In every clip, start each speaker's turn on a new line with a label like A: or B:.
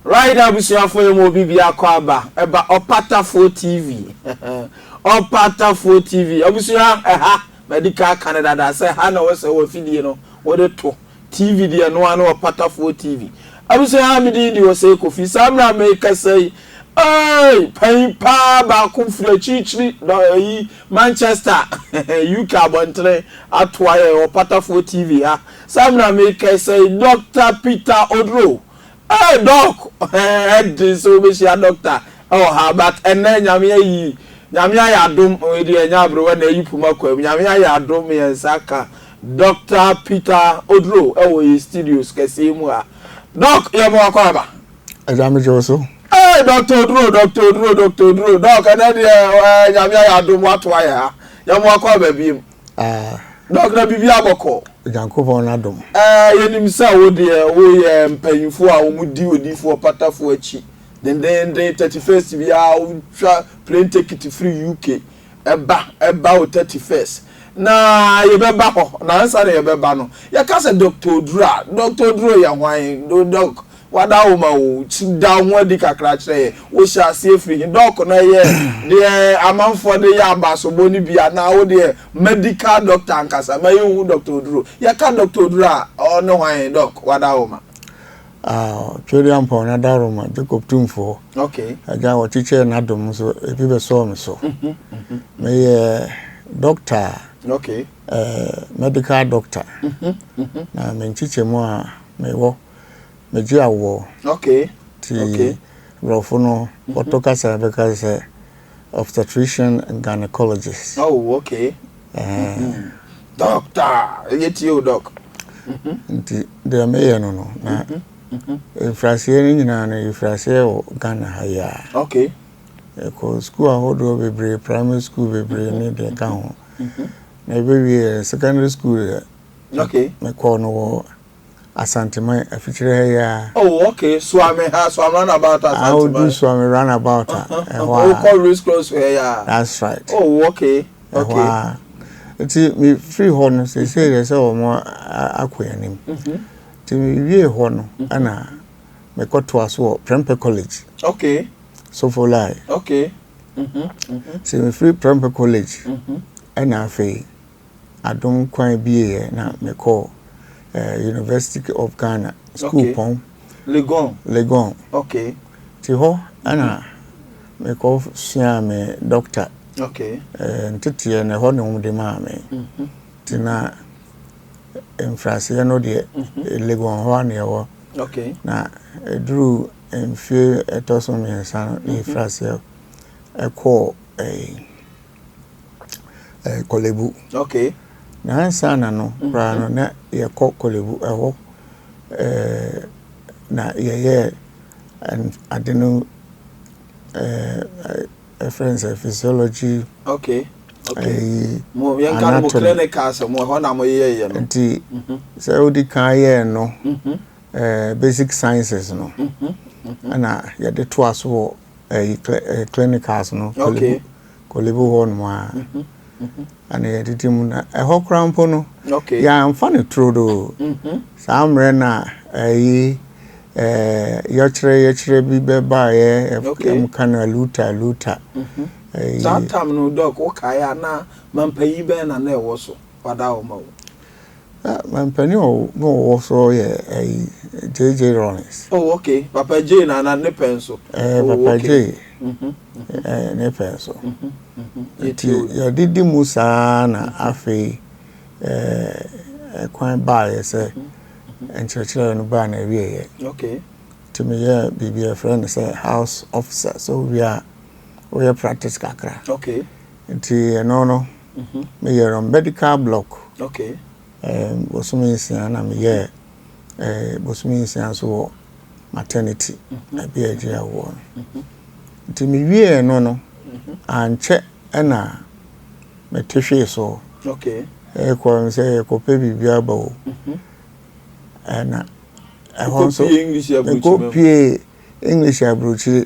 A: Ryder abusuafoɔ yɛ ma obi biako aba ɛba Ɔpatafoɔ TV Ɔpatafoɔ TV abusua ɛha madi kan aka no dada sɛ ɛha na wɔsɛ wɔ afidie no wode to TV deɛ ɛno ara ne Ɔpatafoɔ TV abusua ɛha me din de Osei Kofi saa mmerɛ a merekasa yi eei panyin paa baako firi akyirikyiri dɔ ɛyi Manchester UK abɔntene atoa yɛ Ɔpatafoɔ TV ha saa mmerɛ a merekasa yi Dɔkta Peter Oduro Hey doc ɛde sɛ wobɛhyia doctor ɛwɔ ha but ɛnɛ nyame ayi nyame ayɛ adom wei deɛ ɛnyɛ aberewa na ayi poma kwam nyame ayɛ adom mmiɛnsa ka Doctor Peter Oduro ɛwɔ yɛ studios kɛseɛ mu ha doc yɛ mo akɔ aba ɛgya me kyɛw so Hey Doctor Oduro Doctor Oduro Doctor Oduro doc ɛnɛ deɛ nyame ayɛ adom wato ayɛ ha yɛ mo akɔ aba biem. Ah. Na ɔkra biribiara bɔkɔɔ. Onyankopɔn n'adom. Ah, yɛnim sɛ wo deɛ woyɛ mpanyinfoɔ a wɔn di odiifoɔ ɔpatafoɔ akyi dendeenden, thirty first biara wo twa plane ticket firi UK ɛba, ɛba wo thirty first, na yɛ bɛ ba hɔ, na ansa na yɛ bɛ ba no, yɛ ka sɛ Doctor Oduro a, Doctor Oduro yɛ hwan, Doc, W'ada wo ma wo ti da wo ho adi kakra kyerɛ yɛn. Wo hyɛ aseɛ firi he? Dɔɔko no yɛ deɛ amanfoɔ de yɛ abasobɔ no bi anaa wo deɛ medical doctor ankasa? Mayi wo ho Doctor Oduro. Yɛ ka Doctor Oduro a ɔne hwan he Doc? W'ada wo ma. Ah, Tweri Ampɔn Adaroma, Jacob Tumfoɔ. Okay. Agya wɔkyekyɛɛ n'adom nso ebi bɛsɔɔ me so. Mhm, mhm. Meyɛ doctor a, Okay. eh, medical doctor. Mhm, mhm. Na me nkyekyɛmu a mewɔ megye awoɔ. Okay. Ti okay. Brɔfo no wɔto kasa bɛka sɛ obstetrician and gynecologist. Oh okay. Dɔkta ɛyɛ tie o dɔk. Nti deɛ meyɛ no no na mfiraseɛ no nyinaa no yɛfiraseɛ wɔ Ghana ha yi a. Okay. Ɛkɔ sukuu ahodoɔ bebree primary school bebree ne deɛ ka ho. Na ɛbɛwie secondary school deɛ. Okay. Mekɔɔ no wɔ. Asanteman afikyire ha yi ara. Oh okay, Suame ha, Suame roundabout Asanteman. Aah odu Suame roundabout a, ɛhɔ ara. Wokɔ Race Cross hɔ yi a. That's right. Oh okay, okay. Ɛhɔ ara. Nti me firi hɔ no, seesei deɛ sɛ wɔn akɔ yɛn anim. Nti me wie hɔ no, ɛna me kɔ toa so wɔ Prempeh College. Okay. Sofolai. Okay. Nti me firi Prempeh College, ɛna afei. adom kwan bieɛ na mekɔɔ eh, University of Ghana school okay. pɔn Legon Legon okay. ti hɔ ɛna mm -hmm. mekɔ sua me doctor okay. eh, nteteɛ na ɛhɔ na wɔn de maa me mm -hmm. ti na mfraseɛ no deɛ mm -hmm. Legon hɔ na ɛwɔ okay. na ɛduru mfie ɛtɔ so mmiɛnsa no ne mfraseɛ ɛkɔɔ eh, ɛɛ kɔlɛbu okay nansa na no mhm. koraa no na yɛkɔ kɔlɛbu ɛhɔ ɛɛ na yɛyɛ ade no ɛɛ ɛfrɛ n sɛ physiology okay ɛyi anatomy nti mhm. sɛ wodi kan yɛɛ no mhm. ɛɛ basic sciences no ɛna yɛde toa so wɔ ɛyi clinicals no kɔlebu kɔlebu hɔ nom a mhm, mhm. ɛna yɛtete mu na ɛhɔ kora mpo no yɛamfa no turo do mhm. saa mmerɛ na ɛyi yɛkyerɛ yɛkyerɛ bi bɛbaeɛ ɛmu ka no aluta aluta saa tam no dɔk wokaeɛ a na mampanyin bɛn na na ɛwɔ so wada hɔ ma wo Na mampanin a ɔwɔ na ɔwɔ so yɛ ɛyi JJ Rawlings. Oh okay Papa J na na ne pɛn so. Ɛɛ oh, Papa okay. J ɛɛ ne pɛn so. Nti yɛdidi mu saa na afei ɛɛ ɛkwan baa yɛ sɛ nkyerɛkyerɛ no baa na ɛwie yɛ. Okay. Nti mi yɛ biribi a yɛfrɛ no sɛ house officer so wia woyɛ practice kakra. Okay. Nti ɛno no Meyɛ no medical block. Okay. Um, bosome nsia na meyɛ eh, bosome nsia nso wɔ maternity ɛbi a ɛgye awoɔ no nti mewieɛ no no ankyɛ ɛna mete hwee so ɛkɔ no sɛ yɛkɔpɛ biribi aba o ɛna ɛhɔ nso mekɔpie english aburokyire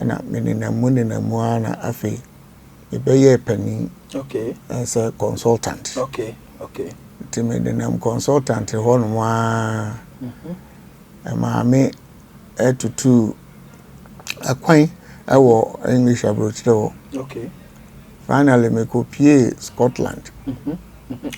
A: Ɛna me nenam mu nenam mu ara na afei me bɛyɛɛ panin okay. sɛ consultant. Okay. Okay. Nti me nenam consultant hɔ nom ara mm-hmm. ɛmaa me ɛtutu akwan ɛwɔ English aburokyerɛ hɔ. Okay. Finally me kɔ piee Scotland.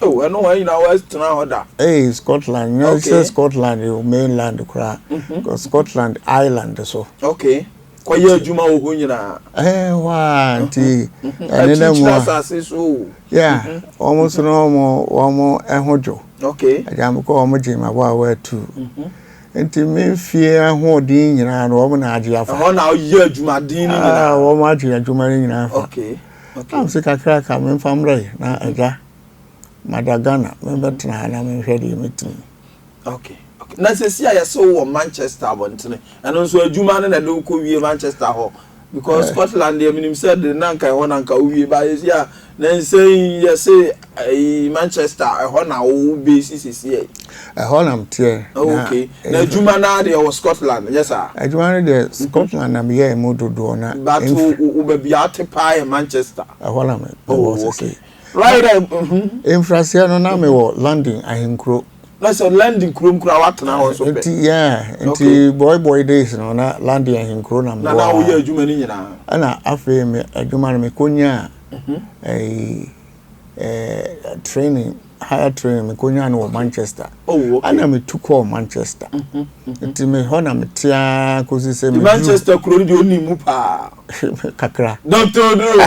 A: Oh, ɛno wɔn nyinaa wɔatena hɔ da. Ee Scotland nyɛ Okay. sɛ Scotland yɛ mainland koraa. Kɔ Scotland Island so. Okay. Kɔyɛ adwuma wɔ hɔ nyinaa. Ɛɛ hɔ a nti ɛne na mu Akyinkyina a. asase so o. Yeah, wɔn so no wɔn wɔn ɛho dwo. Okay. Agya mekɔ wɔn gye mabɔ a wɔatu. Nti me mfie ahoɔden nyinaa no wɔn na agye afa. Ɛhɔ na ɔyɛ adwumaden no nyinaa. Ah, wɔn agye adwuma no nyinaa afa. Okay. Okay. Am se kakra ka me nfa mmerɛ yi na ɛda mm-hmm. mada Ghana me bɛ tena ha na me nhwɛ deɛ me tumi. Okay. Okay. Na sisi a yɛsɛ wɔ Manchester abɔntene ɛno nso adwuma no na ɛde wokɔ wie Manchester hɔ Because Scotland deɛ menim sɛ de na nka ɛhɔ na nka wowie ba yɛsi a na nsɛn yɛse ɛyi Manchester ɛhɔ na wo base sisi ɛyi. Ɛhɔ na mteɛ. Ok na adwuma naa deɛ wɔ Scotland nyɛ saa. Adwuma no deɛ Scotland na meyɛ ɛmu dodoɔ na. But wo baabi a wote paa yɛ Manchester. Ɛhɔ na mewɔ sisi. Oh ok Right. Mfraseɛ no na mewɔ London ahenkuro. Na sɛ London kurom kura watena hɔ nso pɛ. Nti yɛn nti boy boy days no na London ahenkuro na mewɔ. Na na woyɛ adwuma no nyinaa. Ɛna afei me adwuma no mekonya mhm. ɛyi ɛɛ training higher training mekonya no wɔ Manchester. Oh okay. Ɛna metu kɔɔ Manchester. Mhm, mhm. Nti me hɔ na metea kosi sɛ me. Manchester kuro no deɛ ɔnim mu paa. kakra. dɔkta oduro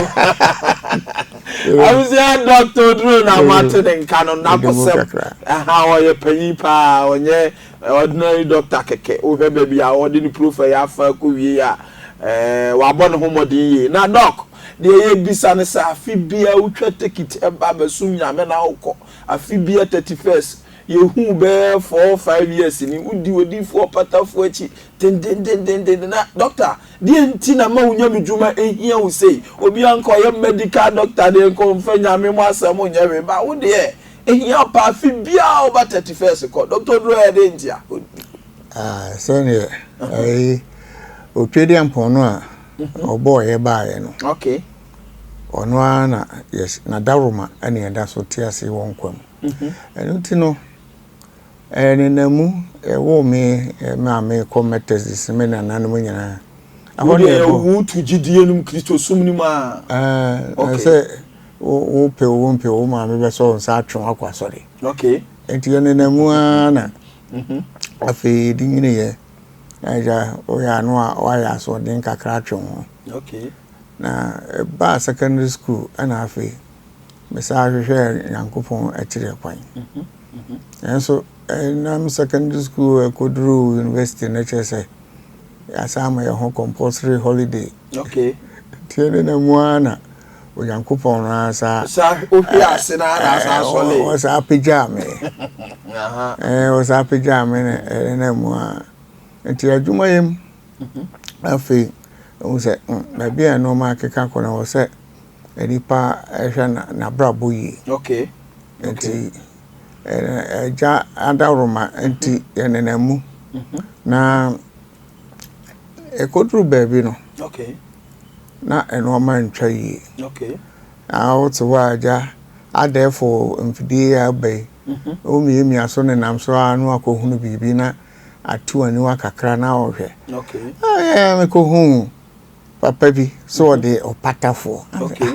A: abusua dɔkta oduro na mo ate ne nka no n'abosɛm ɛha ɔyɛ panyin paa ɔnyɛ ordinary dɔkta kɛkɛ wohwɛ baabi a ɔde ne profile yɛ afa kɔ wie a ɛɛ wabɔ ne ho mmɔden yie na dɔk deɛ yɛ bisa ne sɛ afe bia wotwa tekiti ɛba bɛsom nyame na wokɔ afe bia thirty first yɛhu bɛɛ four five years ni wodi odifoɔ patafoɔ akyi dendendendenden na dɔkta Deɛ nti na ma wo nyame dwuma nhia wo sei obia nka ɔyɛ medical doctor deɛ nka ɔnfa nyame mu asɛm nyɛ hwee ba wo deɛ ɛhia wo paa afe biaa wo ba 31st kɔ doctor oduro ɛyɛ dɛn nti a ɔdi. Ah sɛdeɛ ɛyi Otwedeampɔn no a ɔbɔɔ yɛ baeɛ no, ɔno ara na yɛs, n'adaworoma na yɛda so te ase wɔ nkwa mu. Ɛno nti no. Ɛnenam mu, wɔwoo me maa mekɔɔ Methodist ne me nananom nyinaa. Wo deɛ yɛwoo wo to gyidie no mu, Kristosom no mu a. Ɛɛ, sɛ wopɛ o wompɛ o, wo maame bɛsɔ wo nsa atwe wo akɔ asɔre. Okay. Nti ɛnenam mu ara na afei yɛde nyiniiɛ. Na agya woyɛ a na wayɛ asoɔden kakra atwe wo ho. Okay. Na ɛbaa secondary school ɛna afei Mesan hwehwɛɛ Nyankopɔn akyiri kwan. Nanso ɛnam secondary school ɛkɔduruu university no kyerɛ sɛ yɛasan ama yɛn ho compulsory holiday. Okay. Nti ɛne na mu ara na Onyankopɔn no ara saa. Saa ohwe ase na ara eh, saa sɔle. Ɔsaa apagyaa me. Ɔsaa eh, apagyaa me na ɛne na mu ara. Nti adwuma yɛ mu. Mhm. Afei, ɛhu sɛ mm, baabi a nneɛma akeka kɔ na wɔ sɛ nipa hwɛ n'abrabɔ yie. Okay. Nti agya adaworoma nti yɛnenam mu mhm. na ɛkɔduru baabi no na nnoɔma ntwa yie wote hɔ agya adɛɛfo mfidie aba yi mhm. womiamia so nenam so a no akɔhunu biribi na atu aniwa kakra na ɔhwɛ mekɔhuu Papa bi sɛ mhm. ɔde ɔpatafoɔ. Okay.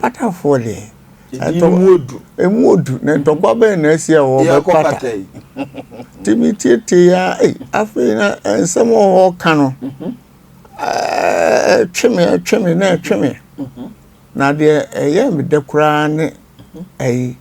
A: Ɔpatafoɔ deɛ. Ɛdi emu odu. Emu odu na ntɔkwa mhm. bɛn na esi a wɔbɛpata. Timi tietie ya ee afei na nsɛm wɔ hɔ ka no. Mhm. Ɛtwe me ɛtwe me na ɛtwe me. Na deɛ ɛyɛ me dɛ koraa ne ɛyi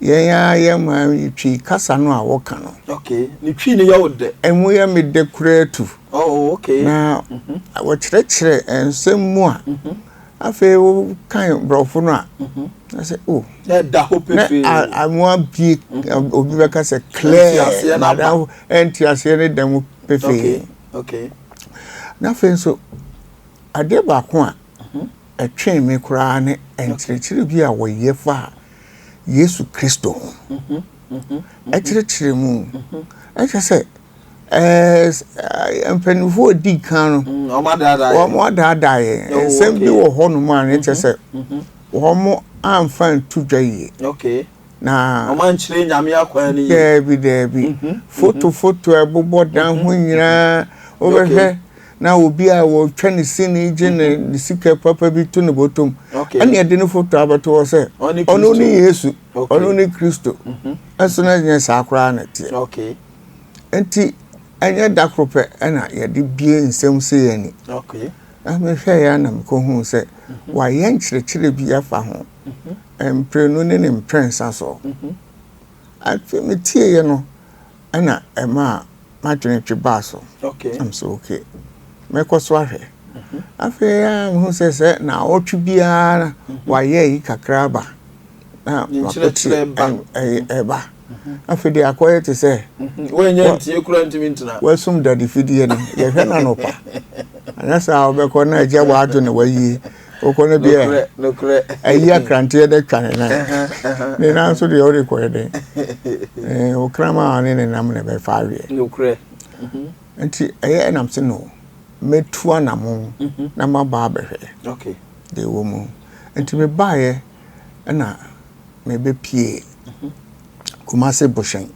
A: Yɛn ara yɛn man yi Twi kasa no a wɔka no. Okay, ne Twi no yɛ wo dɛ? Emu yɛ me dɛ koraa tu. Oh, okay. Na mhm. wɔkyerɛkyerɛ nsɛm mu a, mhm. afei wokan borɔfo no a, mhm. na sɛ o. Oh. Na ɛda hɔ pefee. Na ano abie, obi bɛka sɛ clear, madam, ɛnti aseɛ ne da mu pefee. Okay, okay. Na afei nso, adeɛ baako a. ho. Ɛtwee me koraa ne nkyerɛkyerɛ bi a wɔyɛ faa Yesu Kristo ho. Ɛkyerɛkyerɛ mu. Ɛkyɛ sɛ mpanimfoɔ a ɛdi kan no, wɔn adaadaa yɛn. Nsɛm bi wɔ hɔnom a ɛkyɛ sɛ wɔn amfa nto dwa yie. Na. Wɔn ankyerɛ Nyame akwan no yie. Daabi, daabi. Foto foto a ɛbobɔ dan ho nyinaa, wobɛhwɛ na obi a wɔtwa ne sini gye ne ne sika papa bi to ne bɔtɔ mu. Ɛna ɛde ne foto abɛto hɔ sɛ ɔno ne Yesu, ɔno ne Kristo. Ɛso na ɛnyɛ saa koraa na ɛteɛ. Nti ɛnyɛ da koro pɛ ɛna yɛde bie nsɛm sɛ yɛn ani. Na mehwɛeɛ na mekɔhuu sɛ wayɛ nkyerɛkyerɛ bi afa ho. mprenu ne ne mprɛnsa so. Afei metieeɛ no ɛna ɛmaa m'adwene twe baa so. Okay. I'm so okay. Mɛkɔ so ahwɛ. Mm-hmm. Afei a mehu sɛ sɛ na awɔtwe biara mm-hmm. wayɛ yi kakra aba na makɔtie ɛba. Mm-hmm. Afei de akɔyɛ te sɛ. Wɔnyɛ ntie kura ntumi ntena. Wɔasum dade fidie no yɛhwɛ no anɔpa. Anyɛ saa wobɛkɔ na agya wɔadwo na wayie. wokɔ no deɛ ayi akranteɛ dɛ twa ne nan ne nan so deɛ wode kɔɛ dɛn wo krama a ne ne nam na ɛbɛfa aweɛ mhm. nti ɛyɛ nam se no mɛtu anamo mhm. na maba abɛhwɛ deɛ wɔ mu nti mebaeɛ na mebɛpie mhm. kuma se bohyɛn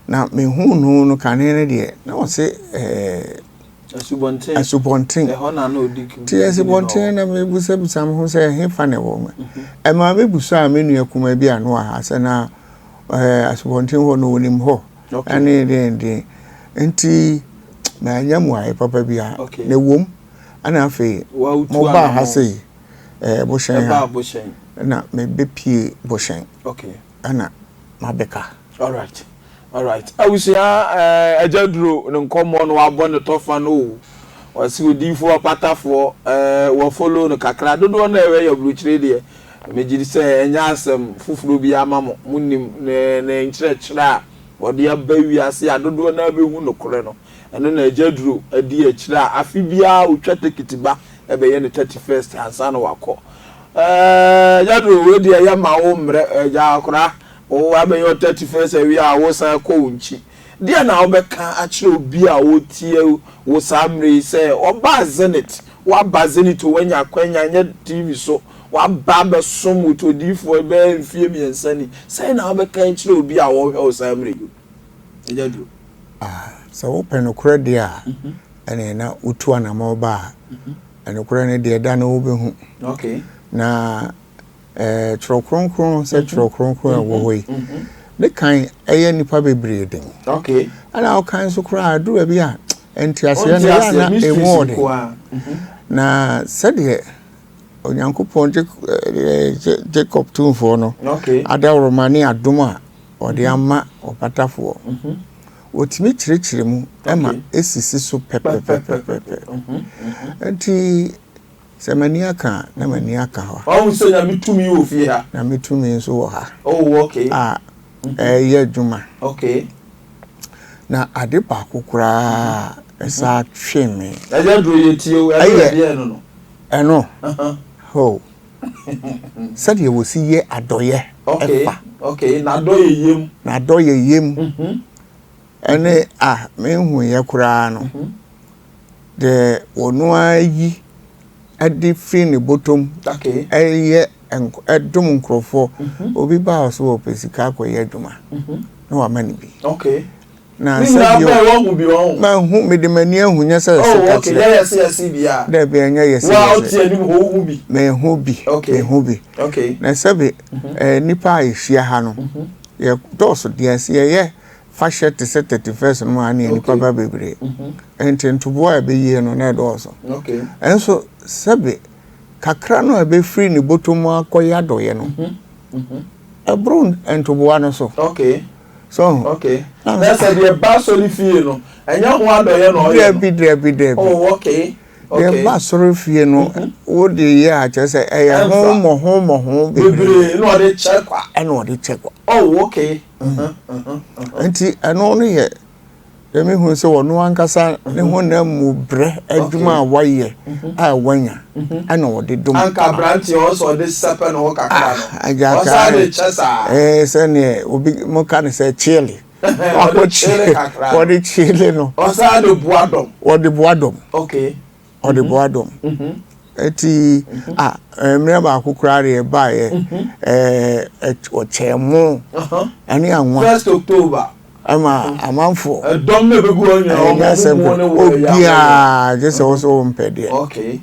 A: na mehu no no kane no deɛ na ɔse Asubɔnten. Asubɔnten. Ɛhɔ na na odi kibiri. Ti asubɔnten na mi busa busa mi ho sɛ ɛhe fa na ɛwɔ mɛ. Ɛmaa mi busa mi nua kuma bi a no wɔ ha sɛ na ɛɛ asubɔnten hɔ no onim hɔ. Okay. Ɛne den den. Nti na anya mu ayɛ papa bi a. Okay. Na ɛwom. Ɛna afei. Wa utu anamɔ. Mo ba ha sei. Ɛɛ bohyɛn ha. Ɛba bohyɛn. Ɛna me bɛ pie bohyɛn. Okay. Ɛna ma bɛ ka. Alright alright abusua ɛɛ agya duro ne nkɔmɔ no wabɔ ne tɔfa no o ɔsi odiifoɔ apatafoɔ ɛɛ wɔ follow no kakra dodoɔ no ɛwɛ yɛ burokyire deɛ megyedi sɛ ɛnyɛ asɛm foforɔ bi ama mo mo nim ne ne nkyerɛkyerɛ a ɔde aba wiase a dodoɔ no ara bɛhu nokorɛ no ɛno na agya duro adi akyire a afe biara ɔtwa tekiti ba ɛbɛyɛ ne thirty first ansa na wakɔ ɛɛ agya duro wei deɛ yɛma wo mmerɛ agya akora. O abɛyɛ ɔtatifrɛ sɛ awie a woresan kɔ wo nkyi. Deɛn na wobɛka akyerɛ obi a ɔretie wo saa mmerɛ yi sɛ ɔbaa Zenit, woaba Zenit o, woanya akwanya, nyɛ TV so, woaba abɛsom with odiyifoɔ bɛyɛ mfeɛ mmiɛnsa ni. Sɛn na wobɛka akyerɛ obi a ɔrehwɛ wo saa mmerɛ yi o? Agya Aduro. Ah, sɛ wopɛ nokorɛ deɛ a, ɛneɛ na wotu anamɔn ba a, nokorɛ no deɛ da no wobɛhu. Okay. Na. Twerɛ Kronkron sɛ Twerɛ Kronkron a ɛwɔ hɔ yi ne kan ɛyɛ nnipa bebree den. Ɛna ɔkan nso koraa aduru baabi a nteaseɛ no yɛ na ɛmu ɔde. Mhm. Na sɛdeɛ Onyankopɔn Jacob Tumfoɔ no adaworoma ne adom a ɔde mhm. ama ɔpatafoɔ. Mhm. Wɔtumi kyerɛkyerɛ mu ma ɛsisi so pɛpɛpɛpɛpɛ. Nti Sɛ m'ani aka a, na m'ani aka hɔ. Wahu sɛ Nyame tumi wɔ fie ha. Nyame tumi nso wɔ ha. Oh ok. A ɛreyɛ adwuma. Ok. Na ade baako koraa a ɛsaa twee me. Ɛyɛ aduro yɛ tie o. Ɛno yɛ deɛ ɛno no. Ɛno? Ho. Sɛdeɛ wɔsi yɛ adɔyɛ ɛfa. Ok, ok. N'adɔyɛ yam. N'adɔyɛ yam. Ɛne ah menhuiɛ koraa no. Deɛ ɔno ara yi de firi ne bɔtɔm yɛ dom nkurɔfoɔ. Obi ba wo so wɔ pɛ sika akɔyɛ adwuma na wama no bi. Na sɛ bio mahu mede m'ani ahu nyɛ sɛ sika kyerɛ. Dabi ɛnyɛ yɛ se yɛ se. Mehu bi mehu bi. Na sɛbi nnipa a yɛhyia ha no yɛdɔɔso deɛ sɛ yɛyɛ fahyɛ te sɛ thirty first no mu a na nnipa ba bebree nti ntoboa a ɛbɛyie no na ɛdɔɔso nso sɛbe kakra no a ɛbɛfiri ne bɔtɔ mu akɔyɛ adɔeɛ no ɛboro ntoboa no so so na sɛ deɛ ba sɔre fie no ɛnyɛ ho adɔeɛ na ɔyɛ no daabi daabi daabi oh okay yɛ ba soro fie no mm-hmm. wo de yɛ a kyerɛ sɛ ɛyɛ ho mmɔho mmɔho bebree na ɔde kyɛ kwa ɛna ɔde kyɛ kwa oh okay mm-hmm, mm-hmm, nti ɛno no yɛ yɛmi hu sɛ ɔno ankasa ne ho na mu brɛ adwuma a wayɛ a wanya ɛna ɔde dom anka aberante ɔsɔ ɔde sɛpɛ ne ho kakra no ah, ɔsɛ de kyɛ saa ɛɛ sɛneɛ obi mo ka ne sɛ kyeele Ɔde kyeele kakra no. Ɔde kyeele no. Ɔsan de boa dɔm. Ɔde boa dɔm. Okay. Ɔde boa dɔm. Eti a mmerɛ baako koraa de ɛbaeɛ ɛɛ ɔkyɛɛmo ɛne anwa. First October. Ɛma amanfoɔ. Ɛdɔm na ɛbɛgu wɔn nyinaa. Ɛnyɛ asɛm obiara gye sɛ wɔsɔ wɔn pɛ deɛ. Okay.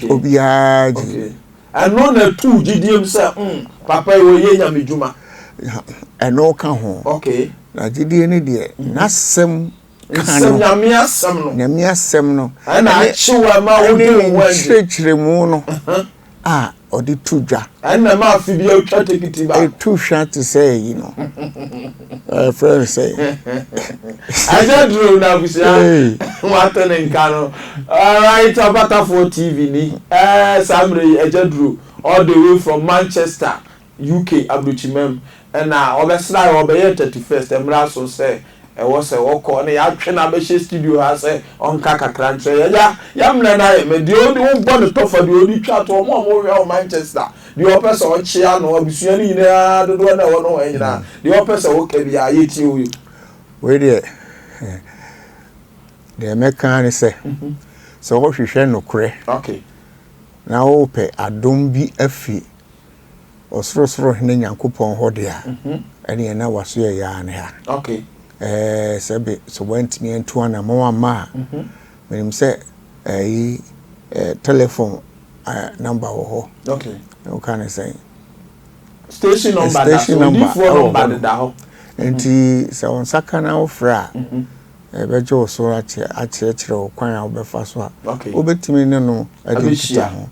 A: Obiara gyee. Ɛno na ɛtoo gyidie mu sɛ, mm, papa yi ɔyɛ Nyame dwuma. Ɛno ka ho. Na gyidie no deɛ, N'asɛm ka no. Nsɛm, Nyame asɛm no. Nyame asɛm no. Ɛna akye wo, ɛma wode wo ho agye. Ɛne ne nkyerɛkyerɛmu no a. ɔde to dwa. Ɛnna ɛma afe biara otwa tekiti baako. Etu hwa te sɛ eyi no. Ɛfrɛ no sɛ. Ɛsɛ duro na abusua. Wɔato ne nka no. Alright, Abatafoɔ TV ni. Ɛɛ saa mmerɛ yi, Agya Duro all the way from Manchester, UK, Aburokyimam, ɛna ɔbɛsraa yɛn, ɔbɛyɛɛ thirty first, mmerɛ aso sɛ. ɛwɔ sɛ ɔkɔ na yɛatwe no abɛhyɛ studio ha sɛ ɔnka kakra nkyerɛ yɛn. Yɛ yɛ mmerɛ no ayɛ mɛ. Deɛ ɔde wobɔ no tɔfa, deɛ ɔde twa to, wɔn a wɔhwɛ wɔ Manchester, deɛ ɔpɛ sɛ ɔkye ano, abusua no nyinaa dodoɔ no a ɛwɔ no hɔ nyinaa, deɛ ɔpɛ sɛ ɔka biara yɛtie wo. Wei deɛ, deɛ mɛka ara ne sɛ, sɛ wohwehwɛ nokorɛ na wopɛ adom bi afi Ɔsorosoro Hene Nyankopɔn hɔ de a, ɛneɛ na wasoɛ yɛ ara ne ha. Ɛɛ, sɛ be, sɛ wantumi antu anamɔn amma a, menim sɛ ayi, ɛɛ, telefon, ɛɛ, nɔmba wɔ hɔ. Woka no sɛn? Station nɔmba da so, odiyifoɔ nɔmba deda hɔ. Enti sɛ wo nsa ka na wofrɛ a, ɛbɛgye wo so akyerɛkyerɛ wo kwan a wobɛfa so a wobɛtumi ne no adi nkitaho.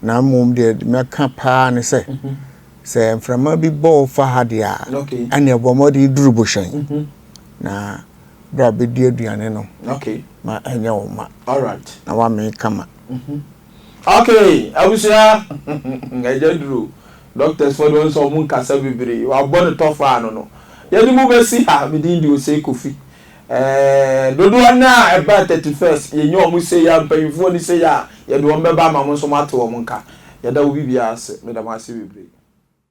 A: na mmom deɛ mɛka paa ne sɛ sɛ mframa bi bɔ wo fa ha deɛ a ɛneɛ bɔ mmɔden duru bohyɛn mhm. na berɛ a bɛdi aduane no ma ɛnyɛ wo ma na woamee kama mhm. ok abusua agya duro doctors fɔ deɛ nso ɔmo nkasa bebree wabɔ ne tɔfaa no no yɛde mu bɛsi ha medin de osei kofi Eeii dodoɔ no a ɛbaa thirty first yɛnya ɔmo sei a mpaninfoɔ no sei a yɛde ɔmo bɛba ama mo nso moate ɔmo nka yɛda obibiaa ase meda mo ase bebree.